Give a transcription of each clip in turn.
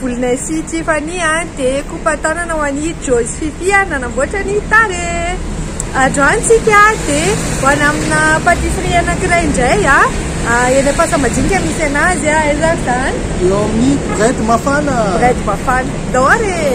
Volonay sy Tiffany a dia kopa tanana ho an'i Joyce Fifi ary nanamboatra ny tare. Androany tsika dia ho any amina patisserie anankiray indray a eny Ampasamadinika misy anazy a aiza ary zany? Eo amin'ny Bread Mafana. Bread Mafana. Ndao ary e!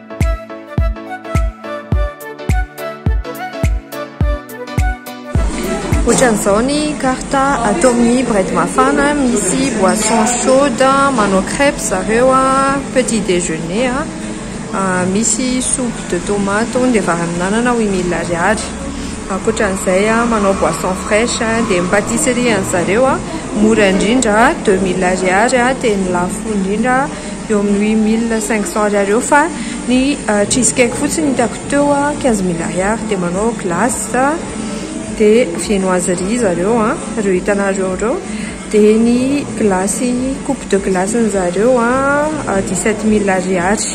Ohatran'izao ny carte atao amin'ny bread mafana, misy boisson chaude, manao crèpes zareo, petit déjeuner, misy soupe de tomate hono dia vary amin'anana huit mille ariary, ankoatran'izay manao boisson fraiche, dia ny patisserie an'zareo mora indrindra deux mille ariary dia ny lafo indrindra eo amin'ny huit mille cinq cents ariary eo fa ny cheese cake fotsiny hitako teo a quinze mille ariary dia manao glace dia viennoiserie zareo a ireo hitanareo ireo dia ny glace coupe de glace ny zareo a dix sept mille ariary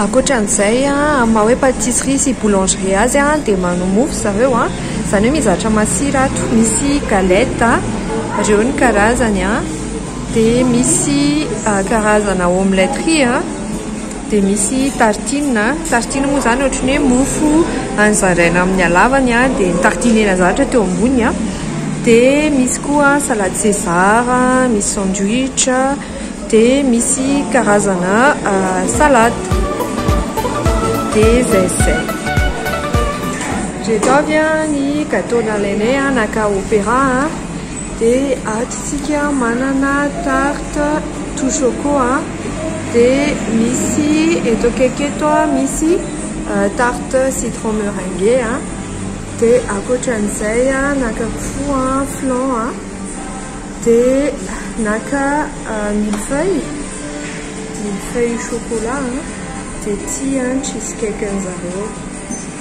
ankoatran'izay a amin'ny maha hoe pâtisserie sy boulangerie azy a dia manao mofo zareo a izany hoe mizatra masira ato misy galette ireo ny karazany a Dia misy karazana omelette riz, dia misy tartine, tartine moa izany ohatry ny hoe mofo zaraina amin'ny halavany dia tartiner-na zatra teo ambony, dia misy koa salade César, misy sandwich, dia misy karazana salade. Dia izay sy izay. Ireto avy ny gateau nalainay naka opéra. Dia ato isika manana tarte tout choco a, dia misy eto akaiky eto a misy tarte citron meringue a, dia ankoatran'izay naka koa flan a, dia naka mille feuille, mille feuille chocolat a, dia ity cheese cake an'izareo.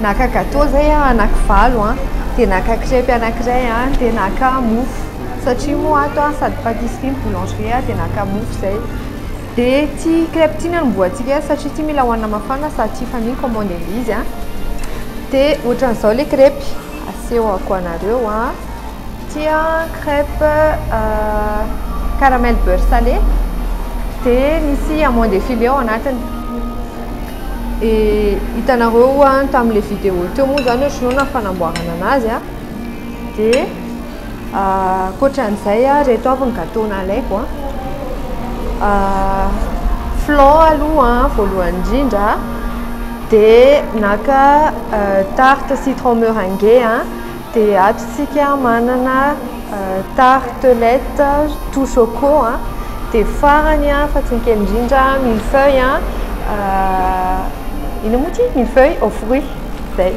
Naka gateau zay aho anaky valo an, de naka crèpe anakiray an, de naka mofo satria moa ato an sady patisserie no boulangerie an, de naka mofo zay, de ty crèpe ty no anombohantsika azy satria ty mila hohanina mafana sady tsy hifanino commande an'ilay izy an, de ohatran'izao le crèpe asehoko anareo an, ty an crèpe caramel beurre salé de misy amande filet ao anatiny. E, hitanareo oa tamin'ilay vidéo teo moa zany ohatr'izao na fanamboarana anazy a, de ankoatran'izay a, reto avy ny gateau nalaiko a, flan aloha voalohany indrindra, de naka tarte citron meringue a, Dia ato isika manana tartelette tout choco a, dia farany a fa tsy ny kely indrindra mille feuilles a, inona moa ity? Mille feuilles aux fruits, izay.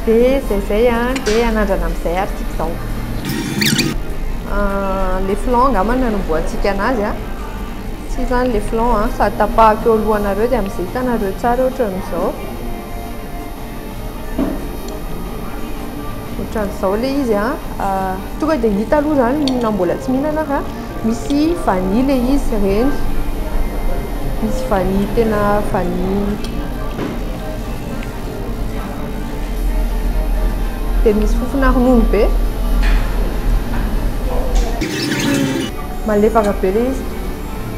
Dia izay izay a, dia anandrana amin'izay ary ity izao. Le flan angamba no anombohantsika anazy a, ity izany le flan a, sady tapahako eo alohanareo dia amin'izay hitanareo tsara ohatran'izao. Ohatran'izao ilay izy an. Ah, tonga dia hita aloha izany na mbola tsy mihinana fa misy vanille ilay izy ireny. Misy vanille tena vanille. Dia misy fofona ronono be. Malefaka be ilay izy.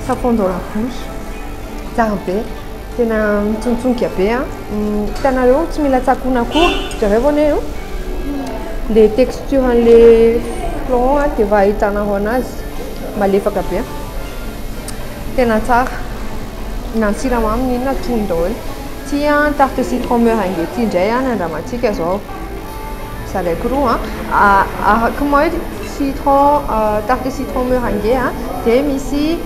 Ça fond dans la bouche. Tsara be. Tena mitsontsonka be a! Hitanareo tsy mila tsakoana akory, jereo anie a! Ilay texture an'ilay flan a, dia efa ahitanareo anazy, malefaka be a! Tena tsara, na ny siramamy na inona tonony daholo. Tia ny tarte citron meringue ity indray an, andramantsika izao. Zalaiko roa araka mail citron tarte citron meringue dia misy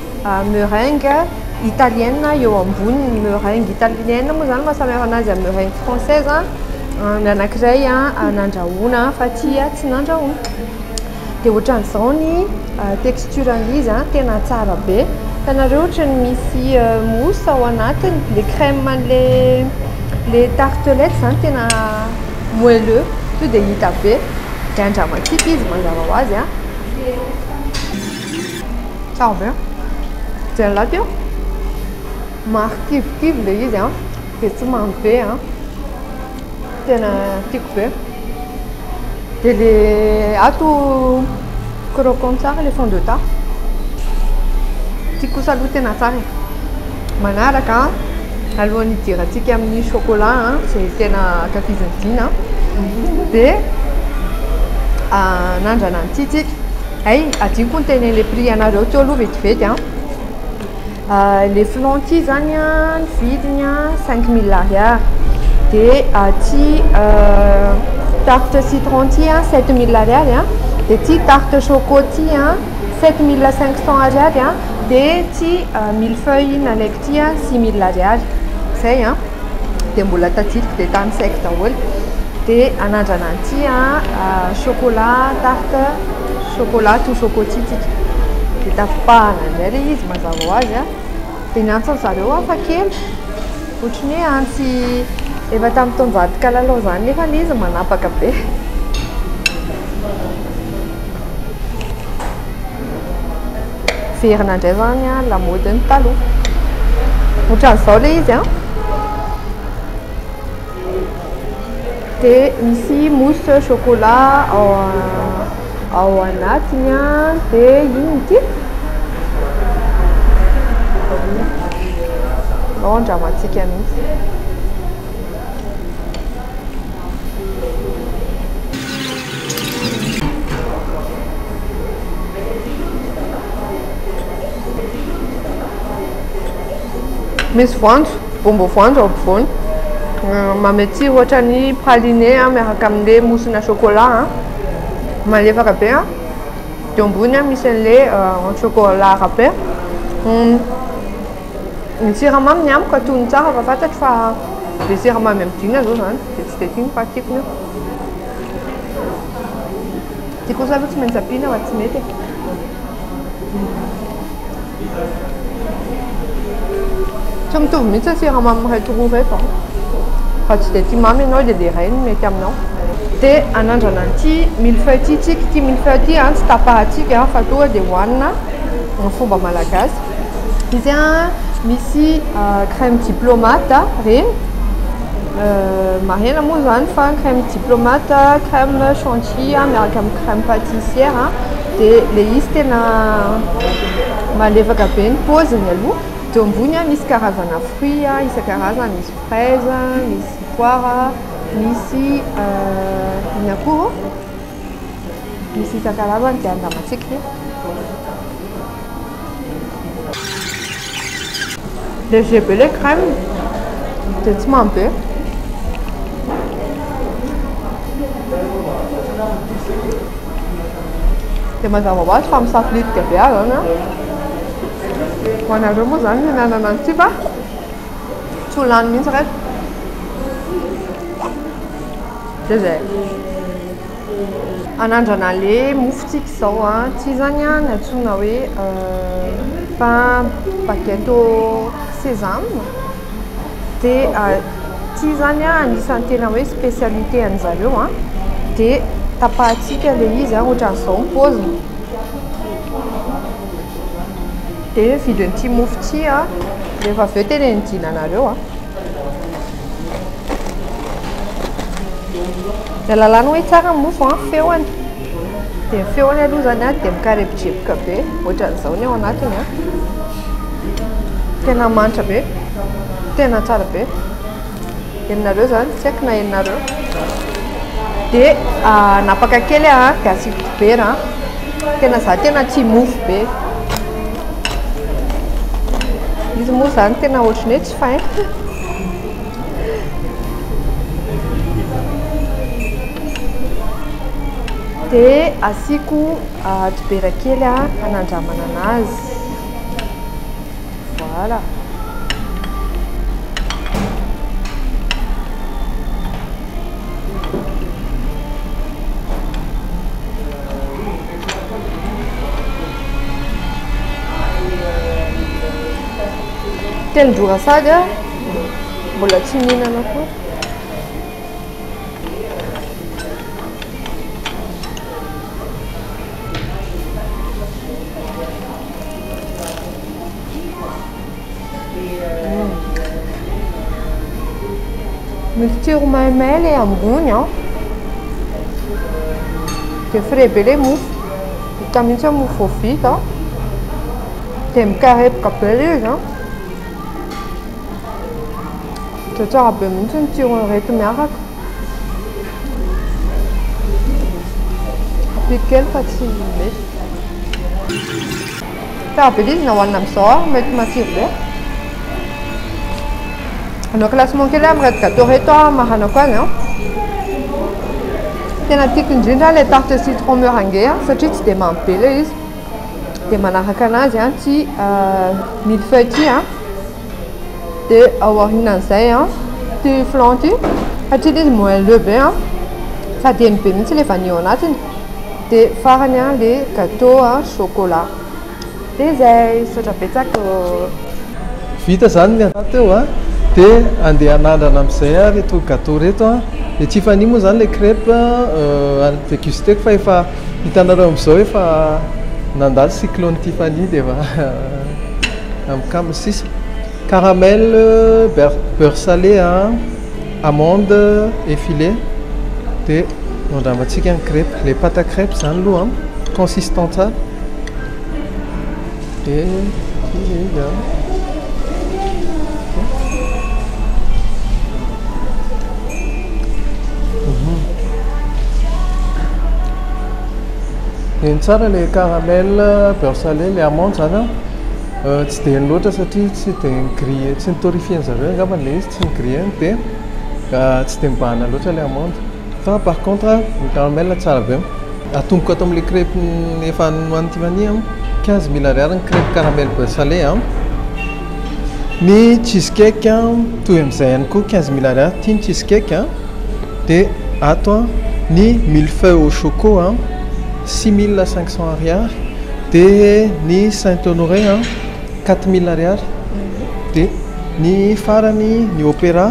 meringue italienne eo amboniny meringue italienne moa izany maha samy hafa anazy amin'ny meringue française ny anankiray nandrahoana fa ity tsy nandrahoana Dia ohatran'izao ny texture-ny izy an, tena tsara be. Hitanareo ohatran'ny misy mousse ao anatiny, ilay crème an'ilay tartelette izany tena moelleux, tonga dia hita be. Dia andramatsika izy mazava ho azy an. Tsara be. Jereo lahatra io. Marikivokivy ilay izy an, dia tsy mamy be an. Tena tiako be. Dia le ato croquant tsara le fond de teint. Tiako kosa aloha tena tsara e. Manaraka alohan'ny hidirantsika amin'ny chocolat izay tena ankafizin'i Dina dia anandrana an'ity tsika. Hay, hadinoko ny tenen'ilay prix anareo teo aloha vetivety an! Ilay flanc ity izany an, ny vidiny an, cinq mille ariary. Dia ity tarte citron ity an, sept mille ariary an. Dia ity tarte choco ity an, sept mille cinq cents ariary an. Dia ity mille feuilles nalaiko ity an, six mille ariary. Izay an. Dia mbola tadidiko dia tany sec daholo. Dia anandrana an'ity an, chocolat tarte. Chocolat toa chocotitika. Dia tapahana indray ilay izy mazava ho azy an. Dia ny antsin'ny zareo hafa kely. Ohatran'ny hoe antsy efa tamin'ny taonjato kalalao izany nefa ilay izy manapaka be. Miverina indray izany an, lamaodin'ny taloha. Ohatran'izao ilay izy an. Dia misy mousse chocolat ao ao anatiny an, dia inona ity? Anao andramantsika mihitsy. Misy voanjo, bonbon voanjo ao ampovoany. Euh, Mamy aty ohatra ny praliné hein, miaraka amin'ilay mousse-na chocolat hein. Malefaka be hein. Eo ambony hein, misy an'ilay euh, en chocolat râpé. Hum, Ny siramamy ny amiko atony tsara fa fantatro fa be siramamy amidina zao zany dia tsy dia tiako fa tiako ny io. Ty kosa aloha tsy maintsy ampiana fa tsy mety e. Tsy mitovy mihitsy ny siramamy ireto roa ireto an. Raha tsy dia tia mamy ianao dia ilay iray no mety aminao. Dia hanandrana an'ity mille-feuille ity isika. Ity mille-feuille ity an tsy tapahantsika fa tonga dia hohanina amin'ny fomba malagasy. Izy an misy crème diplomate ireny. Marihina moa izany fa ny crème diplomate, crème chantilly miaraka amin'ny crème patissière dia ilay izy tena malefaka be ny paoziny aloha, dia eo ambony misy karazana fruits isan-karazany, misy fraise, misy poire, misy inona koa ô? Misy isan-karazany izay andramantsika e. Léger be le crème dia tsy mamy be. Dia mazava ho azy fa misafiditika be aho izany an. Ho anareo moa izany mihinanana an'ity fa tsy ho lany mihitsy ireto. Zay zay. Anandrana le mofo tsika izao a, tsy izany a ny antsoina hoe pain baguette au sésame dia tsy izany a anisan'ny tena hoe spécialité an'ny zareo a, dia tapahintsika le izy a ohatran'izao ny paoziny, dia vidin'ity mofo ity a, rehefa avy eo tenenidinanareo a. Ilay lalàna hoe tsara ny mofo an, feony. Dia ny feony aloha izany an dia mikarepojepoka be, ohatran'izao ny ao anatiny an. Tena manitra be, tena tsara be. Henonareo izany, tsy haiko na henonareo. Dia ah, napaka kely aho an, dia asiako dibera an. Tena izaho tena tia mofo be. Izy moa izany tena ohatran'ny hoe. Dia asiako dibera kely hanandramana anazy. Voilà. Telon-drora saga mbola tsy mihinana koa. Hmm. Mixture maimay ilay ambony an. Dia frais be ilay mofo. Hita mihitsy mofo vao vita. Dia mikarepoka be ilay izy an! Dia tsara be mihitsy ny tsiron'ireto miaraka. Ampiako kely fa tsy mety. Tsara be ilay izy na hohanina amin'izao ary mety matsiro be. Hanao classement kely aho amin'ireto gâteau ireto aho hamaranako azy an! Tena tiako indrindra ilay tarte citron meringue satria tsy dia mamy be ilay izy. dia manaraka anazy an ty mille feuille ty an dia ao aorianan'izay an ty flan ty satria ilay izy moelleux be an sady heno be mihitsy ilay vanille ao anatiny dia farany an ilay gateau an chocolat dia izay misaotra betsaka ô vita izany ny anah teo an dia andeha hanandrana amin'izay aho ireto gateau ireto an dia tsy hifanina moa izany ilay crèpe an déguster-ko fa efa Hitanareo amzao efa nandalo cyclone Tiffany dia efa mikambana sisa caramel beurre salé amande et filet dia andramantsika ny crepes, ilay pâte à crepes izany aloha consistant tsara. Eny tsara ilay caramel, beurre salé, ilay amande izany an, tsy dia eny loatra satria tsy dia grille, tsy notorifien-dry zareo angamba ilay izy, tsy ni-grille-ny dia tsy dia mibahana loatra ilay amande. Fa par contre ny caramel tsara be. Atomboka ato amin'ilay crèpe efa nohanin'i Tiffany an, quinze mille ariary ny crèpe caramel beurre salé an. Ny cheese cake an, toy amin'izay ihany koa quinze mille ariary ity ny cheese cake an. Dia ato an, ny mille feuilles au choco an, six mille cinq cents ariary. Dia ny saint honoré an, quatre mille ariary. Dia ny farany ny opéra.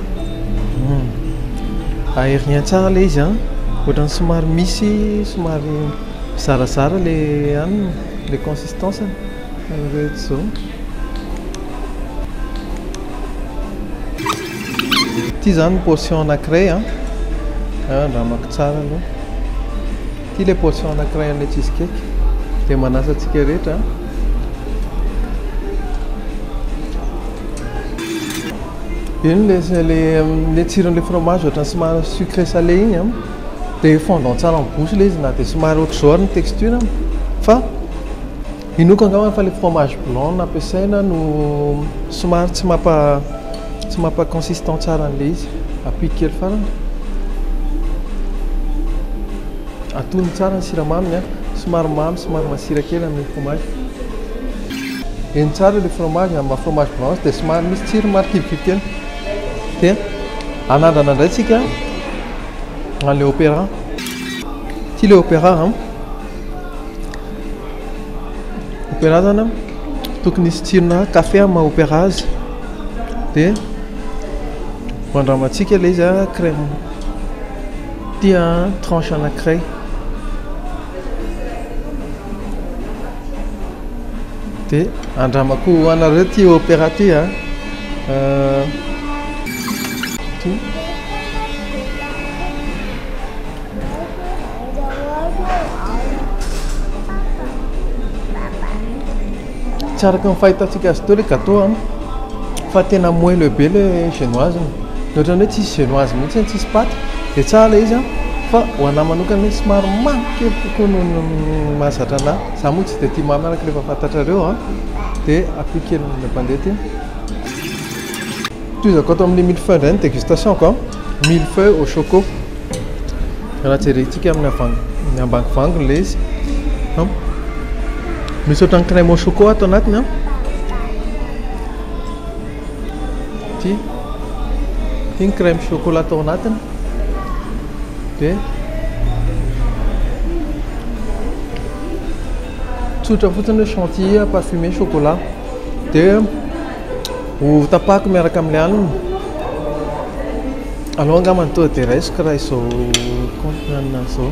Air rien tsara ilay izy an! Ohatran'ny somary misy somary zarazara ilay anona, ilay consistance-ny. Ity izany ny portion anankiray an! Andramako tsara aloha. Ity ilay portion anankiray an'ilay cheese cake. Dia manasa antsika rehetra an! Eny le zay le le tsiron'le fromage ohatran'ny somary sucré salé iny an, dia fondant tsara amin'ny bouche le izy na dia somary ohatr'izao ary ny texture an, fa inoako angamba fa le fromage blanc no ampiasaina no somary tsy mampa tsy mampa consistant tsara an'le izy, ampiko kely foana, atony tsara ny siramaminy an, somary mamy somary masira kely amin'le fromage. Eny tsara ilay fromage amin'ny maha fromage blanc azy dia somary misy tsirony marikivy kely. Dia anandrana indray tsika an'ilay opéra. Ity ilay opéra an. Opéra zany an, tokony hisy tsirona kafe amin'ny maha opéra azy. Dia ho andramantsika ilay izy an, crème. Ity an, tranche anankiray. De andramako ho anareo ty opéra ty a. Euh, tsy araka ny fahitantsika azy teo le gâteau an fa tena moelleux be le genoise ny ohatran'ny hoe tsisy genoise mihitsy tsisy paty de tsara le izy an fa ho anahy manokana hoe somary mamy Kely kokoa noho ny mahazatra anahy. Za moa tsy dia tia mamy araka ilay efa fantatrareo an! Dia ampio kely ny mpandeha ity. Tohizako ato amin'ny mille-feuille indray ny dégustation-ko an! Mille-feuille au choco. Raha jerentsika amin'ny amin'ny ambangovangony ilay izy an! Misy ohatran'ny crème au choco ato anatiny an! ity ity ny crème chocolat tao anatiny dia tsotra fotsiny hoe chantilly parfumé chocolat dia ho tapako miaraka amin'ny alina alao angamba ny toa dia raisiko raha izao compte-na an'azy izao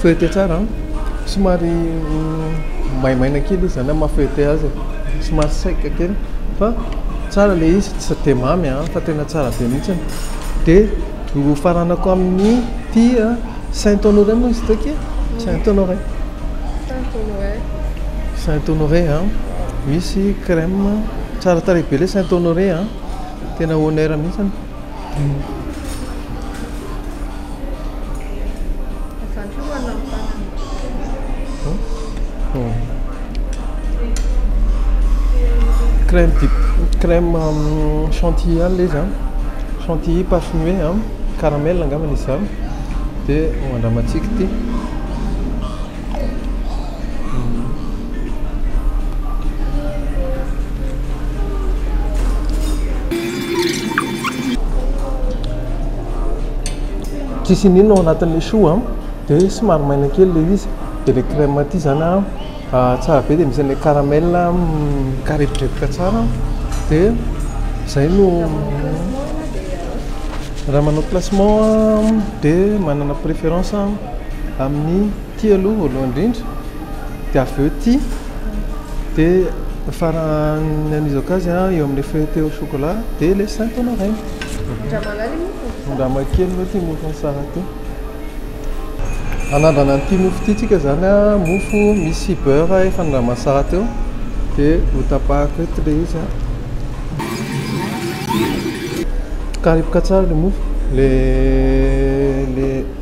Feuilleter tsara an! Somary maimaina kely izy zany maha feuilleter azy e! Somary sec kely fa tsara ilay izy, tsy dia mamy an! Fa tena tsara be mihitsy. Dia nofaranako amin'ity Saint Honoré moa izy ity akia? Saint Honoré. Saint Honoré. Saint Honoré an! Misy crème tsara tarehy be ilay Saint Honoré an! Tena honneur mihitsy. Crème vita crème chantilly ihany ilay izy an, chantilly parfumé an, caramel angambany izy izany dia andramantsika ity. Tsisy iniana ao anatin'ilay choux an, dia somary maina kely ilay izy, dia ilay crème aty izany an tsara be dia misy an'ilay caramel mikareporepoka tsara dia izay no raha manao classement dia manana préférence. Amin'ny ity aloha voalohany indrindra dia avy eo ity dia farany amin'izao cas eo amin'ilay feuilletée au chocolat dia ilay sainto naraina. Andraman'aliny moa fomba fisafidy. Andramankely moa ity mofo an'i Sarah ity. Hanandrana an'ity mofo ity tsika izany a, mofo misy beurre efa nandraman'i Sarah teo dia ho tapahako eto ilay izy a. Tokariboka tsara ilay mofo, ilay ilay.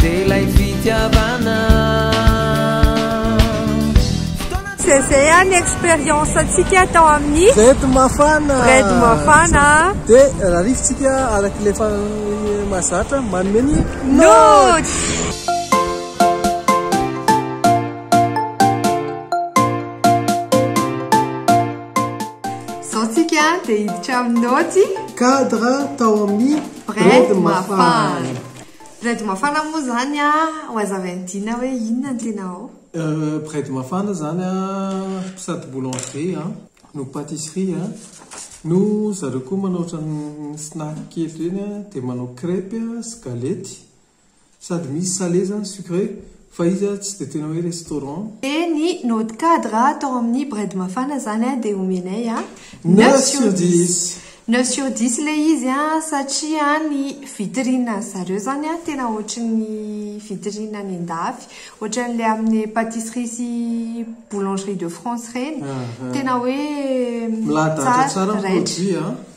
Dia ilay fitiavana. Dia izay ihany ny expérience antsika tao amin'ny Bread Mafana. Bread Mafana. Dia rarifintsika araka ilay efa mahazatra manome ny notes. Izao tsika dia hiditra amin'ny notes. Cadre tao amin'ny Bread mafana. Bread mafana moa zany a, ho azavain'i Dina hoe inona ny tena ao? Bread mafana zany a, sady boulangerie a, no patisserie a, no zareo koa manao ohatran'ny snack kely ireny a, dia manao crepes sy galety, Sady misy sale zany sucre fa iza tsy de tena hoe restaurant. De ny naute cadre atao amin'ny bread mafana zany a de omenay a neuf sur dix. Neuf sur dix ilay izy a satria ny vitrine an'i zareo zany a tena ohatry ny vitrine any an-dafy ohatran'ilay amin'ny patisserie sy boulangerie de France ireny tena hoe tsara raitra.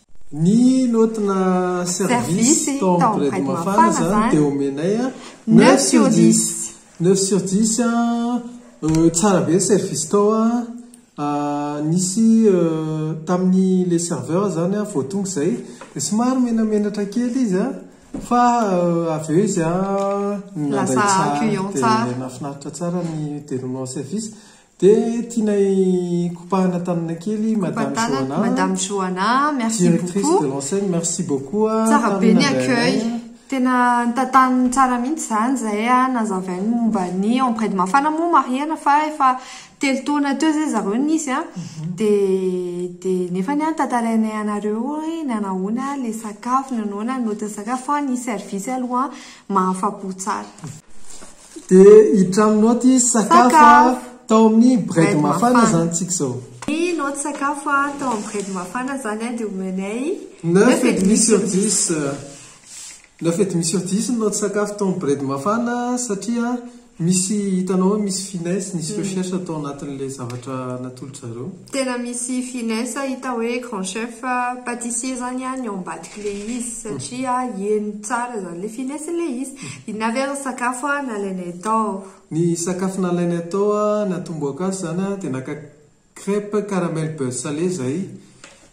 Ny notina service tao amin'ny Grady Mafana izany dia omenay neuf sur dix. Neuf sur dix, tsara be ny service tao an, nisy tamin'ny ilay serveur izany an, vao tonga izay dia somary menamenatra kely izy an, fa avy eo izy an, nandray tsara dia nahafinaritra tsara ny déroulement service. Dia tianay kopahana tanana kely madame Johanna. Kopahana madame Johanna, merci beaucoup. Directrice de l'enseigne, merci beaucoup. Tsara be ny accueil. Tena tantaniny tsara mihitsy izany izay nazavainy momba ny Empred Mafana moa marihana fa efa telo taona teo izay zareo nisy an. Mhm. Dia dia nefa ny an tantarainay anareo hoe nanahoana ilay sakafo, nanahoana ny note ny sakafo fa ny service aloha mahafapo tsara. Dia hitramin'ny naoty sakafo tao amin'ny Bread Mafana izany tsika izao. Ny naoty sakafo tao amin'ny Bread Mafana izany dia omenay neuf et demi sur dix. Neuf et demi sur dix ny naoty sakafo tao amin'ny Bread Mafana satria misy hitanao hoe misy finesse, nisy recherche tao anatin'ilay zavatra natolotrareo. Tena misy finesse hita hoe grand chef patissier zany a ny ao ambadika le izy satria heno tsara zany le finesse le izy. Inona avy ary ny sakafo a nalainay tao? Ny sakafo nalainay tao a ny atombohako azy zany a de naka crèpe caramel beurre salé zahay.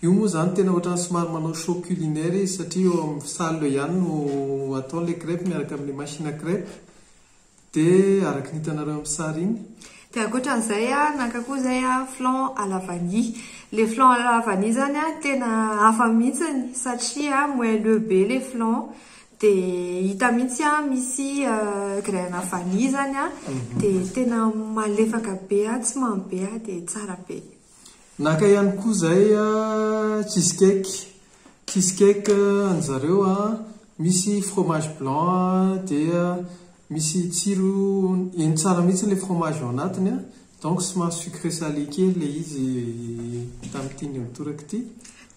Io moa zany tena ohatran'ny somary manao show culinaire izy satria eo amin'ny salle eo ihany no atao le crèpe miaraka amin'ny machine à crèpe. Dia araka ny hitanareo amin'ny sary iny. Dia ankoatra an'izay aho naka koa izay flan à la vanille. Ilay flan à la vanille izany tena hafa mihitsy satria moelleux be ilay flan dia hita mihitsy an misy graine à vanille izany an, dia tena malefaka be an, tsy mamy be an, dia tsara be. Naka ihany koa izay cheese cake, cheese cake an'ny zareo misy fromage blanc dia misy tsiro heno tsara mihintsy ilay fromage ao anatiny donc somary sucré salé kely ilay izy tamin'ity nihotorako ity.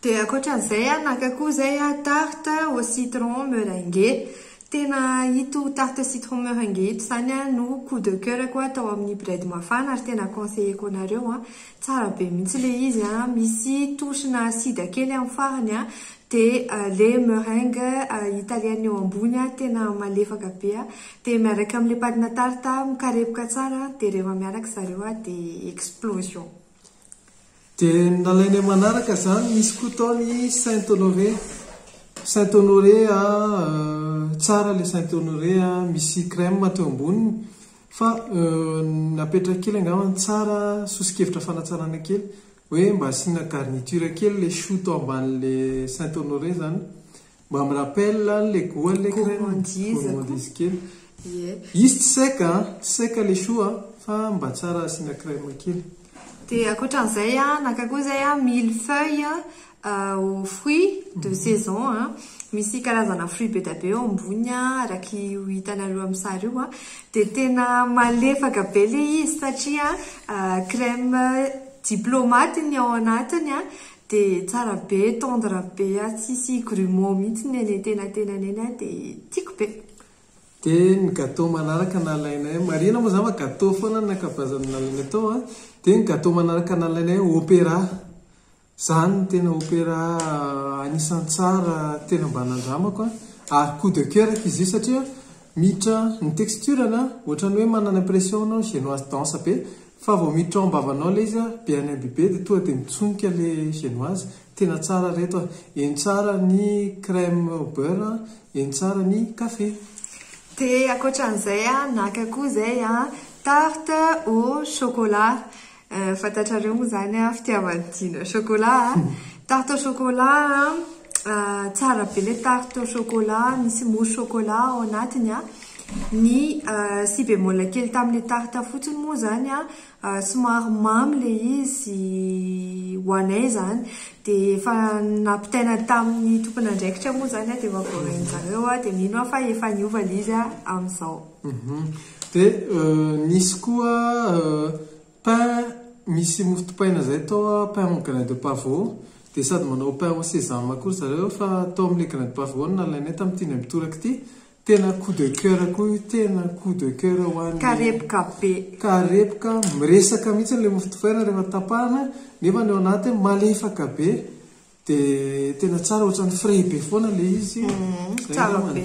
Dia ankoatran'izay aho naka koa izay aho tarte au citron meringue. Tena ito tarte au citron meringue ito izany no coup de coeur-ko aho tao amin'ny Bread Mafana ary tena conseiller-ko anareo an. Tsara be mihitsy ilay izy an, misy touche-na sida kely amin'ny farany an, dia ilay meringue italienne eo ambony an, tena malefaka be an, dia miaraka amin'ilay patina tarte mikarepoka tsara an, dia rehefa miaraka zareo an dia explosion. Dia nalainay manaraka izany, nisy koa tao ny Saint Honoré, Saint Honoré an, tsara ilay Saint Honoré an, misy crème teo amboniny, fa napetrany kely angamba tsara, soso-kevitra fanatsarana kely, hoe mba asiana garniture kely ilay choux tao ambanin'ilay Saint Honoré izany Mba mi rappelle an le goal le gourmandise kely. Izy tsy sec an, tsy sec le choux an, fa mba tsara asiana crème kely. Dia ankoatran'izay an, naka koa izay an mille feuilles aux fruits de saison an, misy karazana fruits be dia be eo ambony an, araka io hitanareo amin'ny sary io an, dia tena malefaka be ilay izy satria crème diplomate ny ao anatiny an, De tsara be, tendre be ah, tsisy grumeaux mihitsy ny eny antenatenany eny ah, de tiako be. De ny gateau manaraka nalainay, marihina moa zany fa gateau foana ny ankabeazany nalainay tao an, de ny gateau manaraka nalainay opera, zany no tena opera anisan'ny tsara tena mba nandramako an, ary coup de coeur ko izy io satria miditra ny texture-ny an, ohatran'ny hoe manana impression enao genoise danse be, Fa vao miditra ao am-bavanao ilay izy be an'ain be be dia tonga dia mitsonika ilay genoise. Tena tsara ry reto a! Eny tsara ny crème au beurre, eny tsara ny café. Dia ankoatran'izay an, naka koa izay an, tarte au chocolat. Fantatrareo moa izany an, fitiavan'i Dina chocolat an. Tarte au chocolat an. Tsara be ilay tarte au chocolat, misy mousse chocolat ao anatiny an! Ny si bémol kely tamin'ilay tarte fotsiny moa izany an, somary mamy ilay izy ho anay izany, dia efa nampitaina tamin'ny tompon'andraikitra moa izany an, dia efa voarain'ny zareo an, dia mino aho fa efa niova ilay izy an, amin'izao. Dia nisy koa Pain misy mofo dipaina zay tao a, pain au grain de pavot, dia sady manao pain au sésame koa ry zareo fa tao amin'ilay grain de pavot no nalainay tamin'ity indray mitoraka ity, tena coup de coeur koa io, tena coup de coeur ho an'ny, Karepoka be. Karepoka, miresaka mihitsy ilay mofo dipaina rehefa tapahana, nefa ny ao anatiny malefaka be. Dia tena tsara ohatran'ny frais be foana ilay izy. Mm, tsara be.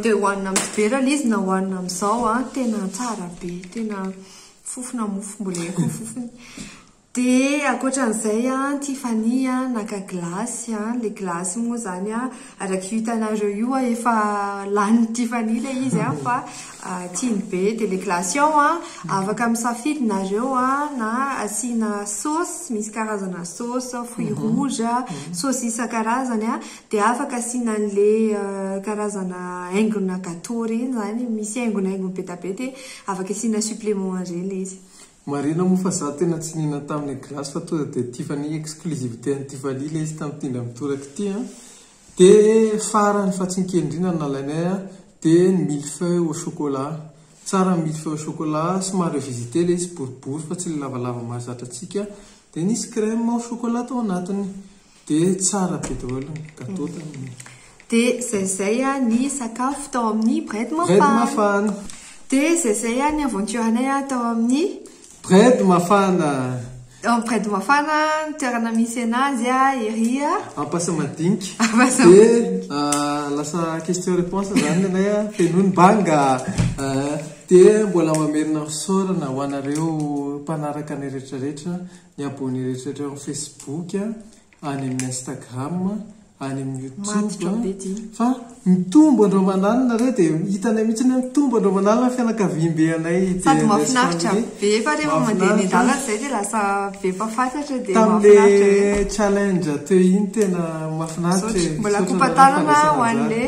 Dia hohanina amin'ny vera ilay izy na hohanina amin'izao an, ah, tena tsara be, tena fofona mofo mbola eko ny fofony. Dia ankoatran'izay an, Tiffany an, naka glace an, ilay glace moa izany an. Araka io hitanareo io a efa lanin'i Tiffany ilay izy a fa tiany be dia ilay glace ao a afaka misafidy nareo a na asiana sauce misy karazana sauce fruit rouge a sauce isan-karazany a dia afaka asiana an'ilay karazana haingona gateau ireny izany misy haingonaingony be dia be dia afaka asiana supplément an'ireny ilay izy. Marina moa fa za tena tsy nihinana taminy glace fa tonga dia tia fa ny exclusivité an'i Tiffany ilay izy tamin'ny tendra mitoraka ity an! Dia farany fa tsy nikendrina no nalainay an! Dia ny mille feuilles au chocolat. Tsara ny mille feuilles au chocolat, somary revisité ilay izy boribory fa tsy ilay lavalava mahazatra antsika. Dia nisy crème au chocolat tao anatiny. Dia tsara be daholo ny gateau tamin'iny. Dia izay izay ny sakafo tao amin'ny Bread Mafana. Bread Mafana. Dia izay izay ny aventure-nay tao amin'ny. Bread Mafana. Ao amin'ny Bread Mafana, ny toerana misy anazy ery. Ampasamadinika. Ampasamadinika. Dia lasa question réponse izany ny anay, feno ny banga. Dia mbola mamerina fisaorana ho anareo mpanaraka anay rehetra rehetra. Ny abonné rehetraretra ao amin'ny Facebook, any amin'ny Instagram, any amin'ny YouTube, fa mitombo andro aman'alina re dia hitanay mihitsy hoe mitombo andro aman'alina ny fianakaviambe anay DNS family. Sady mahafinaritra be fa rehefa mandeha eny an-dalana izay dia lasa be mpahafantratra dia mahafinaritra be. Tamin'ilay challenge teo iny tena mahafinaritra e. Mbola kopa-tanana ho an'ilay